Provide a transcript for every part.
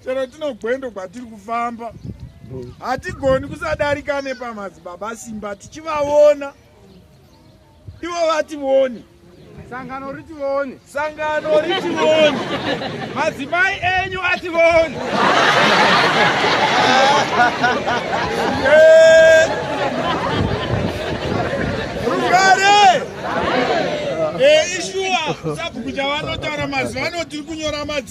chero tinogwendo kwatiri kufamba hatigoni kusadarika nepamadzibaba simba tichivaona ivo vatione sangano ritione sangano ritione madzimai enyu atione eh. rugare eh, ishuwa sabhuku chavanotaura mazuva ano tiri kunyora madzi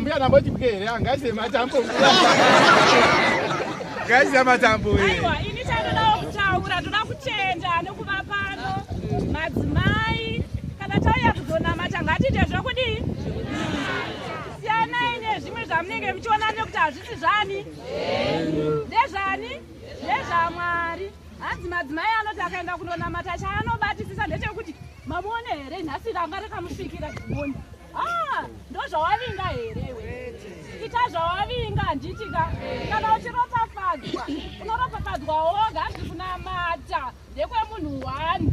Mbuya namba chipike here angaise matambo ngaise matambo aiwa ini chandodawo kutaura toda kutenda nekuva pano madzimai kana tauya kuzonamata ngatiite zvokudii siyanai nezvimwe zvamunenge muchiona nekuti hazvisi zvani ndezvani ndezvamwari hanzi madzimai anoti akaenda kunonamata chaanobatisisa ndechekuti mamuone here nhasi ranga rakamusvikira zimoni ah, ndozvawavinga here ita zvawavinga handitika kana uchiropafadzwa unoropafadzwa woga hanzi kunamata ndekwemunhu one